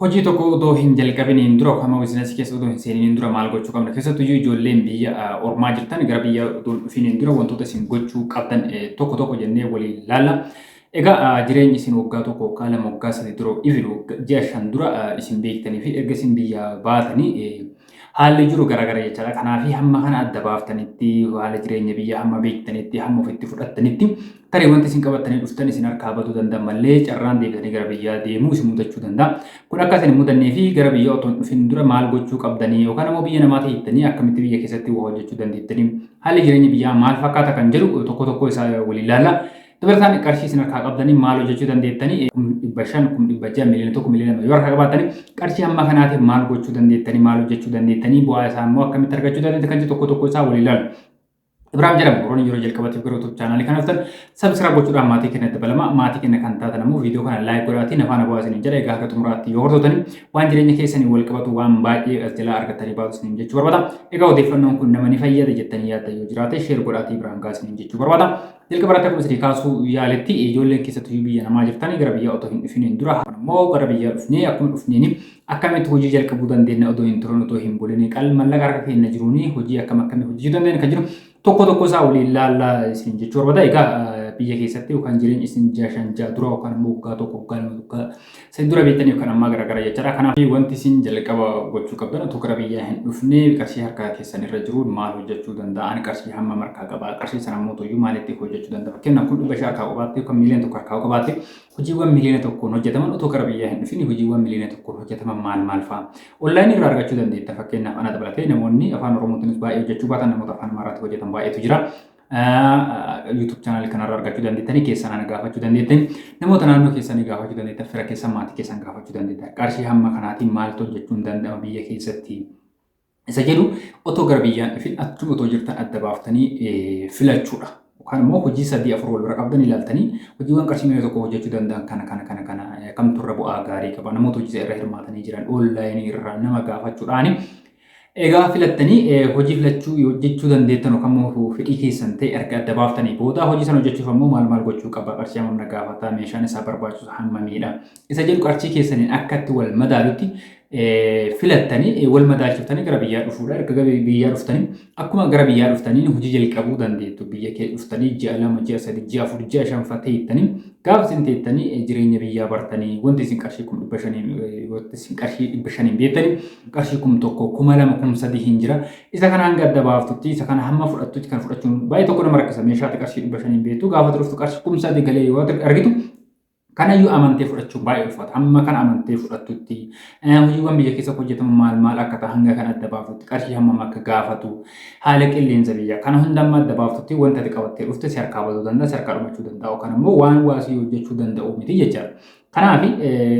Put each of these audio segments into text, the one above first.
Hojii tokko odoo hin jalqabiniin dura yookaan immoo biizinasii keessa odoo hin seeniniin dura maal gochuu qabna? Keessattuu iyyuu ijoolleen biyya ah, ormaa jirtan gara biyya odoo hin dhufiniin dura wantoota isin gochuu qabdan eh, tokko tokko jennee waliin laalla. Egaa ah, jireenyi isin waggaa tokko waggaa lama waggaa sadii dura even wagga- ji'a shan dura ah, isin beektanii fi erga isin biyyaa baatanii eh, Haalli jiru garagara jechaadha. Kanaaf hamma kana adda baaftanitti haala jireenya biyya hamma beektanitti hamma ofitti fudhattanitti tarii wanti isin qabattanii dhuftan isin harkaa batuu danda'a malee carraan deebitanii gara biyyaa deemuu isin mudachuu danda'a. Kun akka isin mudannee fi gara biyya otoo hin dhufin dura maal gochuu qabdanii yookaan immoo biyya namaa tahittanii akkamitti biyya keessatti waa hojjechuu dandeettanii haalli jireenya biyyaa maal fakkaata kan jedhu tokko tokko isaa waliin ilaalla. Dabalataan qarshii isin harkaa qabdanii maal hojjechuu dandeettanii kum dhibba shan kum dhibba ja'a miliyoona tokko miliyoona lama yoo harkaa qabaatanii qarshii hamma kanaatiif maal gochuu dandeettanii maal hojjechuu dandeettanii bu'aa isaa immoo akkamitti argachuu dandeetti kan jedhu tokko tokko isaa walii ilaalu. Ibraahim jedhamu warroonni yeroo jalqabatiif gara YouTube chaanaalii kana dhuftan sabskiraayib gochuudhaan maatii keenya dabalama maatii keenya kan taatan ammoo viidiyoo kana laayik godhaatii nafaan abawaa isiniin jedha egaa hanga xumuraatti yoo hordotanii waan jireenya keessanii wal qabatu waan baay'ee as jalaa argatanii baatu isiniin jechuu barbaada egaa odeeffannoon kun nama ni fayyada jettanii yaadda yoo jiraate sheer godhaatii Ibraahim gaa isiniin jechuu barbaada Jalqaba irratti akkuma isinii kaasuu yaaletti ijoolleen keessattuu biyya namaa jirtanii gara biyyaa otoo hin dhufiniin dura immoo gara biyyaa dhufnee akkuma dhufneen akkamitti hojii jalqabuu dandeenya otoo hin turin otoo hin bulin qal mallaqa harka keenya jiruun hojii akkam akkamii hojjechuu dandeenya kan jiru tokko tokko isaa waliin laallaa isin jechuu barbaada egaa biyya keessatti yookaan jireenya isin jaashan jaa dura yookaan immoo waggaa tokko waggaa lama waggaa Isin dura beektanii yookaan ammaa garaagara jechaadha. Kanaaf wanti isin jalqaba gochuu qabdan utuu gara biyyaa hin dhufne qarshii harkaa keessan irra jiruun maal hojjechuu danda'a? Ani qarshii hamma markaa qaba. Qarshii sana immoo toyyuu maalitti hojjechuu danda'a? Fakkeenyaaf kun dhibba shan harkaa qabaatti yookaan miiliyoona tokko harkaa qabaatti hojiiwwan miiliyoona tokkoon hojjetaman utuu gara biyyaa hin dhufin hojiiwwan miiliyoona tokkoon hojjetaman maal maal fa'a? Onlaayinii irraa argachuu dandeetta. Fakkeenyaaf ana dabalatee namoonni afaan Oromootiinis baay'ee hojjechuu baatan namoota afaan Amaaraatiin hojjetan baay'eetu jira. YouTube channel kanarra argachuu dandeettanii keessan ana gaafachuu dandeettan namoota naannoo keessanii gaafachuu dandeettan fira keessan maatii keessan gaafachuu dandeettan qarshii hamma kanaatiin maaltu hojjechuun danda'ama biyya keessatti isa jedhu otoo gara biyyaan dhufin achuma otoo jirtan adda baaftanii filachuudha. Yookaan immoo hojii sadii afur wal bira qabdan ilaaltanii hojiiwwan qarshii miliyoona tokko hojjechuu danda'an kana kana kana kana kamtu irra bu'aa gaarii qaba namoota hojii irra hirmaatanii jiran oonlaayinii irraa nama gaafachuudhaani Egaa filattanii hojii filachuu hojjechuu dandeettan yookaan immoo fedhii keessan ta'e erga adda baaftanii booda hojii sana hojjechuuf ammoo maal maal gochuu qaba qarshii hammam na gaafata meeshaan isaa barbaachisu hammamiidha isa jedhu qarshii keessaniin akkatti wal madaalutti filattanii wal madaalchiftanii gara biyyaa dhufuudha. Erga gara biyyaa dhuftanii akkuma gara biyyaa dhuftanii hojii jalqabuu dandeettu. Biyya kee dhuftanii ji'a lama, ji'a sadii, ji'a afur, ji'a shan fa'a ta'ettanii Gaafa isin teettanii eh, jireenya biyyaa bartanii wanti isin qarshii kum dhibba shaniin eh, wanti isin qarshii dhibba shaniin beektanii qarshii kum tokko kuma lama kum sadii hin jira. Isa kana hanga adda baaftutti isa kana hamma fudhattutti kan fudhachuun baay'ee tokko nama rakkisa meeshaatti qarshii dhibba shaniin beektu gaafa turuftu qarshii kum sadii galee yoo argitu Kanayyuu amantee fudhachuun baay'ee ulfaata. Amma kana amantee fudhattutti Hojiiwwan biyya keessatti hojjetaman maal maal akka ta'an hanga kan adda baaftutti qarshii hammam akka gaafatu haala qilleensa biyya kana hunda amma adda baaftutti wanta ati qabattee dhufte si harkaa baduu danda'a si harkaa dhumachuu danda'a yookaan immoo waan waa si hojjechuu danda'u miti jechaadha. Kanaaf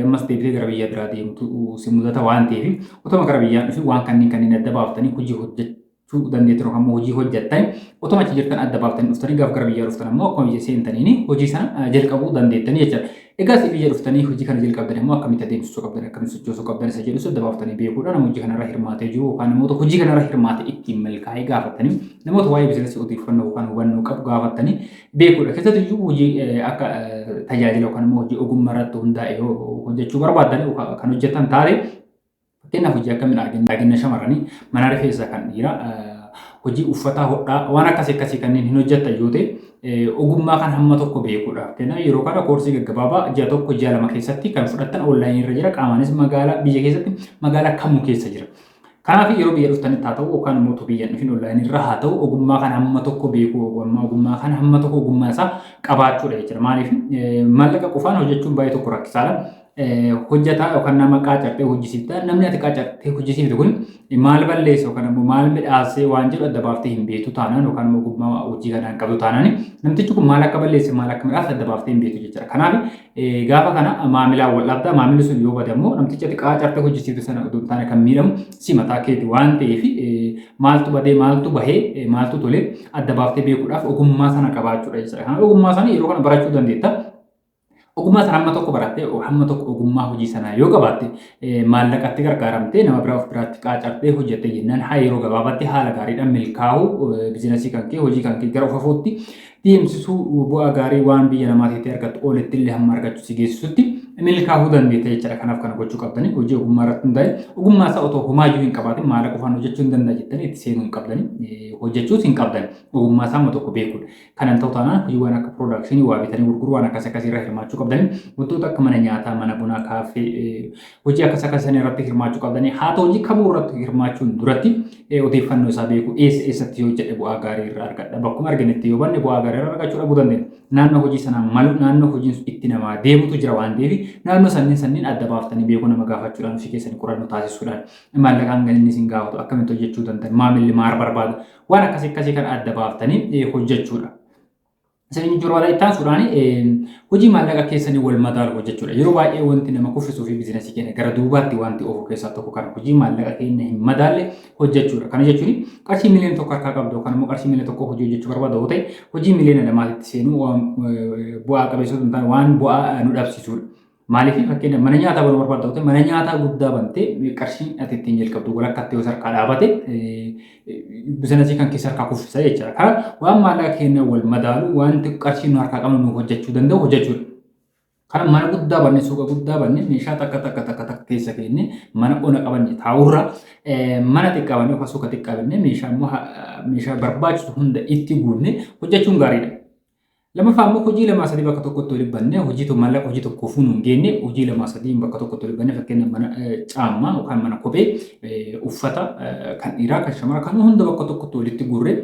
ammas deebitee gara biyya biraa deemtu si mudata waan ta'eef otoma gara biyyaan dhufi waan kanneen kanneen adda baaftanii hojii hojjechuu tu dandeettan yookaan immoo hojii hojjettan otuma achi jirtan adda baaftanii dhuftanii gaaf gara biyyaa dhuftan ammoo akkuma biyya seentaniin hojii sana jalqabuu dandeettanii jechuudha. Egaa si biyya dhuftanii hojii kana jalqabdan immoo akkamitti adeemsisuu qabdan akkamitti sochoosuu qabdan isa jedhu adda baaftanii beekuudha nama hojii kanarra hirmaatee jiru yookaan namoota hojii kanarra hirmaate ittiin milkaa'ee gaafatanii namoota waa'ee biizinasii odeeffannoo yookaan hubannoo qabu gaafatanii beekuudha. Keessattuu iyyuu hojii akka tajaajila yookaan immoo hojii ogummaa irratti hundaa'e yoo hojjechuu barbaadan kan hojjetan taate Fakkeenyaaf hojii akkamiin argina? Argina shamarranii mana rifeensaa kan dhiiraa hojii uffataa hodhaa waan akkasii akkasii kanneen hin hojjetan yoo ta'e ogummaa kan hamma tokko beekuudha. Fakkeenyaaf yeroo kana koorsii gaggabaabaa ji'a tokko ji'a lama keessatti kan fudhattan onlaayinii irra jira qaamaanis magaalaa biyya keessatti magaalaa kamuu keessa jira. Kanaaf yeroo biyya dhuftanitti haa ta'u yookaan immoo utuu biyya hin dhufin onlaayinii irra haa ta'u ogummaa kana hamma tokko beekuu ogummaa ogummaa kana hamma tokko ogummaa isaa qabaachuudha jechuudha. Maaliif maallaqa qofaan hojjechuun baay'ee tokko rakkisaadha. hojjataa yookaan nama qaacartee hojjisiifta. Namni ati qaacartee hojjisiifte kun maal balleessa yookaan immoo maal midhaasee waan jedhu adda baaftee hin beektu taanaan yookaan immoo ogummaa hojii kanaa hin qabdu taanaan namtichi kun maal akka balleesse maal akka midhaase adda baaftee hin beektu jechuudha. Kanaaf gaafa kana maamilaan wal dhabda maamilli sun yoo bade immoo namtichi ati qaacartee hojjisiifte sana utuu hin taane kan miidhamu si mataa keeti waan ta'eef maaltu badee maaltu bahee maaltu tolee adda baaftee beekuudhaaf ogummaa sana qabaachuudha jechuudha. Kanaaf ogummaa sana yeroo kana barachuu dandeetta. Ogummaa sana hamma tokko barattee hamma tokko ogummaa hojii sanaa yoo qabaatte maallaqatti gargaaramtee nama biraa of biraatti qaacartee hojjette jennaan haa yeroo gabaabaatti haala gaariidhaan milkaa'uu biizinasii kan kee hojii kan kee gara ofafuutti deemsisuu bu'aa gaarii waan biyya namaa ta'e argattu oolitti illee hamma argachuu si geessisutti milkaa'uu dandeetta jechaadha. Kanaaf kana gochuu qabdanii hojii ogummaa irratti hundaa'e ogummaa isaa otoo homaayyuu hin qabaatin maallaqa qofaan hojjechuu hin danda'a jettanii itti seenuu hin qabdanii hojjechuus hin qabdan ogummaa isaa amma tokko beekuudha. Kana hin ta'u taanaan hojiiwwan akka piroodakshinii waa bitanii gurguruu waan akkas akkasii irra hirmaachuu qabdanii wantoota akka mana nyaataa, mana bunaa, kaaffee hojii akkas akkas sana irratti hirmaachuu qabdanii haa ta'u hojii kamuu irratti hirmaachuun duratti odeeffannoo isaa beekuu eessa eessatti yoo jedhe bu'aa gaarii irraa argadha bakkuma arginetti yoo banne bu'aa gaarii irraa argachuu dhabuu dandeenya. Naannoo hojii sanaa malu naannoo hojiin sun itti namaa deemutu jira waan ta'eef naannoo sanniin sanniin adda baaftanii beekuu nama gaafachuudhaan ofii keessanii qorannoo taasisuudhaan maallaqaan galinni isin gaafatu akkamitti hojjechuu dandan maamilli maal barbaada Waan akkasii akkasii kan adda baaftanii hojjechuudha. Isin inni jiru irratti taasisuudhaan hojii maallaqa keessanii wal madaalu hojjechuudha. Yeroo baay'ee wanti nama kuffisuu fi biizinasii keenya gara duubaatti wanti oofu keessaa tokko kan hojii maallaqa keenya hin madaalle hojjechuudha. Kana jechuun qarshii miliyoona tokko harkaa qabdu yookaan immoo qarshii miliyoona tokko hojii hojjechuu barbaadu yoo ta'e hojii miliyoona lamaatitti seenuu bu'aa qabeessota hin taane waan bu'aa nu dhabsiisudha. Maaliif fakkeenya mana nyaataa banuu barbaadda ta'e mana nyaataa guddaa bantee qarshii ati ittiin jalqabdu walakkatti yoo sarkaa dhaabate bizinasii kan keessa harkaa kuffisa jechuudha. Karaa waan maallaqa keenya wal madaalu wanti qarshii nu harkaa qabnu nu hojjechuu danda'u hojjechuudha. Kana mana guddaa banne suuqa guddaa banne meeshaa takka takka takka takka keessa keenne mana ona qabanne taa'urra mana xiqqaa banne yookaan suuqa xiqqaa banne meeshaa immoo meeshaa barbaachisu hunda itti guunne hojjechuun gaariidha. Lamaffaa immoo hojii lamaa sadii bakka tokkotti walitti bannee hojii tokko mallaqa hojii tokko fuunu hin geenne hojii lamaa sadii bakka tokkotti walitti bannee fakkeenya mana caammaa yookaan mana kophee uffata kan dhiiraa kan shamaraa kan hunda bakka tokkotti walitti guurree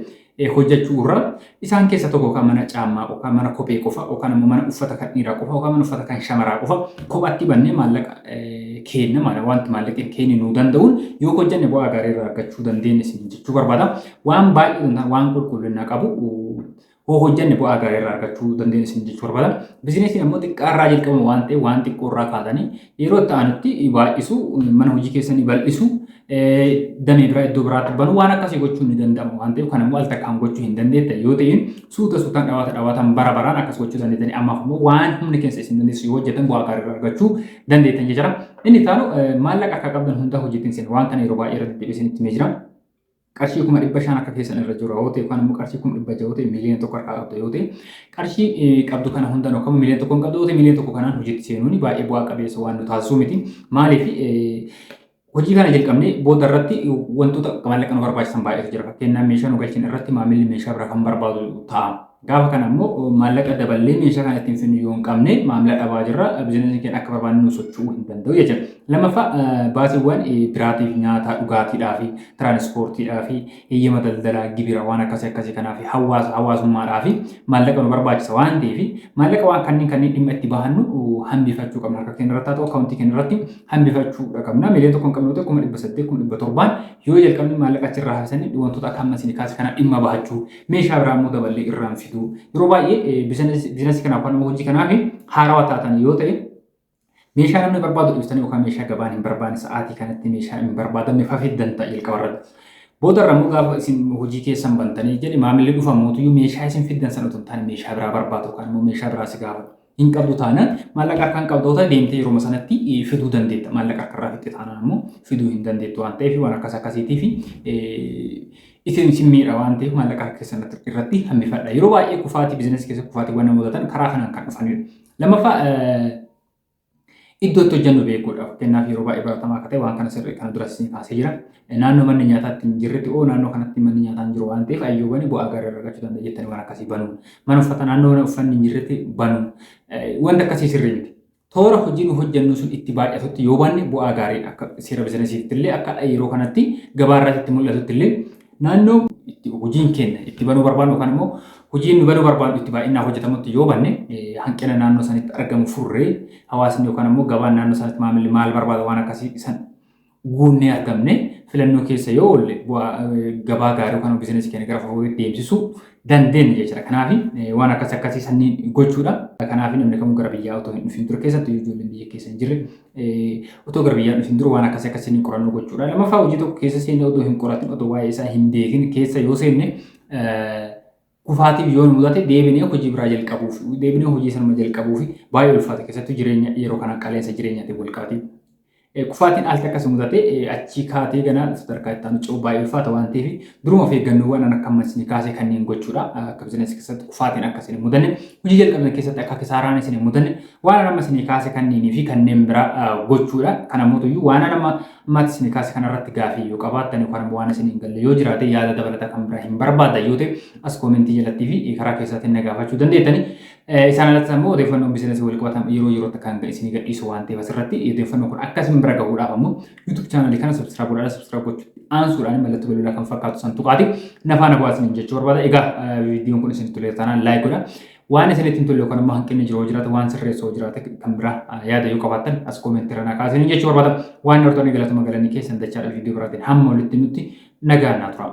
hojjechuu irraa isaan keessa tokko yookaan mana caammaa yookaan mana kophee qofa yookaan immoo mana uffata kan dhiiraa qofa yookaan mana uffata kan shamaraa qofa kophaatti bannee maallaqa keenna maala wanti maallaqni keenya nuu danda'uun yoo hojjenne bu'aa gaarii irraa argachuu dandeenya isin jechuu barbaada waan baay'ee waan qulqullina qabu hoo hojjanne bu'aa gaarii irraa argachuu dandeenyu isin jechuu barbaada. Bizinesiin ammoo xiqqaa irraa jalqabamu waan ta'eef waan xiqqoo irraa kaatanii yeroo itti aanutti baay'isu mana hojii keessanii bal'isu damee biraa iddoo biraatti banu waan akkasii gochuun ni danda'ama waan ta'eef kan immoo al takkaan gochuu hin dandeettan yoo ta'in suuta suutaan dhawaata dhawaatan bara baraan akkas gochuu dandeettanii ammaaf immoo waan humni keessa isin dandeessu yoo hojjetan bu'aa gaarii irraa argachuu dandeettan jechara. Inni taanu maallaqa akka qabdan hundaa hojiitiin isin waan kana yeroo baay'ee irratti deebisin itti jira. qarshii kuma dhibba shan akka keessan irra jiru yoo ta'e yookaan immoo qarshii kuma dhibba ja'a yoo ta'e miiliyoona tokko harkaa qabda yoo ta'e qarshii eh, qabdu kana hundan yookaan miiliyoona tokko hin qabdu yoo ta'e miiliyoona tokko kanaan hojiitti seenuun baay'ee bu'aa qabeessa waan nu taasisuu miti maaliif eh, hojii kana jalqabnee booda irratti wantoota maallaqa nu barbaachisan baay'eetu jira fakkeenyaaf meeshaa nu galchin irratti maamilli meeshaa biraa kan barbaadu ta'a. Gaafa kana immoo maallaqa daballee meeshaa kana ittiin finnu yoo hin qabne maamila dhabaa jirra bizinasiin keenya akka barbaanne nu socho'uu hin danda'u jechuudha. Lammaffaa baasiiwwan biraatiif nyaataa dhugaatiidhaa fi tiraanispoortiidhaa fi heyyama daldalaa gibira waan akkasii akkasii kanaa fi hawaasa hawaasummaadhaa fi maallaqa nu barbaachisa waan ta'eef maallaqa waan kanneen kanneen dhimma itti bahannu hambifachuu qabna harka keenya irratti haa ta'u akkaawuntii keenya irratti hambifachuu qabna miliyoona tokkoon qabnu ta'e kuma dhibba saddeet kuma dhibba torbaan yoo jalqabne maallaqa achirraa hafisanii wantoota akka amma isin kaase kana dhimma bahachuu meeshaa biraa immoo daballee irraan fiduu yeroo baay'ee biizinasii kanaaf kan hojii kanaaf haarawaa taatan yoo ta'e meeshaa namni barbaadu dhiistanii yookaan meeshaa gabaan hin barbaanne sa'aatii kanatti meeshaa hin barbaadamne fafiddan ta'a jalqaba irratti. Booda irra immoo gaafa isin hojii keessan bantanii jedhe maamilli dhufa mootuyyuu meeshaa isin fiddan sana otoo hin taane meeshaa biraa barbaadu yookaan immoo meeshaa biraa si gaafatu. hin qabdu taanaan maallaqa harkaan qabdoota deemtee yeroo sanatti fiduu dandeetta. Maallaqa harkarraa fixxe taanaan ammoo fiduu hin dandeettu waan ta'eef waan akkas akkasiitiif isin isin miidha waan ta'eef maallaqa harka keessan irratti hambifadha. Yeroo baay'ee kufaatii biizinasii keessa kufaatiiwwan namoota ta'an karaa kanaan kan dhufanidha. Lammaffaa Iddoo itti hojjennu beekuudha. Fakkeenyaaf yeroo baay'ee baratamaa akka ta'e waan kana sirrii kana duras isin kaasee jira. Naannoo manni nyaataa itti hin jirretti oo naannoo kanatti manni nyaataa hin jiru waan ta'eef ayyoo bane bu'aa gaarii irraa argachuu danda'a jettanii waan akkasii banuu. Mana uffata naannoo mana uffanni hin jirretti banuu. Wanti akkasii sirrii miti. Toora hojii nu hojjennu sun itti baay'atutti yoo banne bu'aa gaarii akka seera bizinesiitti illee akka yeroo kanatti gabaa irratti itti mul'atutti illee Naannoo itti hojiin keenya itti banuu barbaannu yookaan immoo hojiin nu banuu barbaannu itti baay'inaan hojjetamutti yoo banne hanqina naannoo sanitti argamu furree hawaasni yookaan immoo gabaan naannoo sanitti maamilli maal barbaada waan akkasii san guunnee argamne filannoo keessa yoo oolle gabaa gaarii yookaan biizinasii keenya gara fuulduraatti deemsisuu dandeenyu jechuudha. Kanaaf waan akkas akkasii sanniin gochuudha. Kanaaf namni kamuu gara biyyaa otoo hin dhufin dura keessatti ijoolleen biyya keessa hin jirre otoo gara biyyaa dhufin dura waan akkas akkasii ni qorannoo gochuudha. Lammaffaa hojii tokko keessa seenne otoo hin qoratin otoo waa'ee isaa hin beekin keessa yoo seenne kufaatiif yoo mudate deebinee hojii biraa jalqabuuf deebinee hojii sanuma jalqabuuf baay'ee ulfaata keessattuu jireenya yeroo kana qaala'insa jireenyaatiin wal qabatee Kufaatiin al takka si mudate achii kaatee ganaa sadarkaa itti aanu ce'uu baay'ee ulfaata waan ta'eef duruma of eeggannoowwan an akka ammas isin kaasee kanneen gochuudha. Akka bizinesi keessatti kufaatiin akka isin hin mudanne hojii jalqabne keessatti akka kisaaraan isin hin mudanne waan an amma isin kaase kanneenii fi kanneen biraa gochuudha. Kana mootuyyuu waan an amma ammaatti isin kaase kanarratti gaafii yoo qabaattan yookaan ammoo waan isin hin galle yoo jiraate yaada dabalataa kan biraa hin barbaaddan yoo ta'e as koomentii jalattii fi karaa keessaatiin na gaafachuu dandeettanii. Isaan alattis ammoo odeeffannoon biizinasii wal qabatan yeroo yerootti akka hanga isinii gadhiisu waan ta'eef asirratti odeeffannoo kun akka isin bira gahuudhaaf ammoo YouTube chaanalii kana subscribe godhaadha subscribe gochuutti aansuudhaan mallattoo bilbilaa kan fakkaatu san tuqaati nafaana bu'aa isiniin jechuu barbaada egaa viidiyoon kun isin tolee taanaan laayik godha waan isinitti hin tolle yookaan ammoo hanqinni jiru jiraate waan sirreessoo jiraate kan biraa yaada yoo qabaattan as koomentii irra naqaa isiniin jechuu barbaada waan nartoonni galatuma galanii keessan dachaadha viidiyoo biraatiin hamma walitti nutti nagaa naa turaa.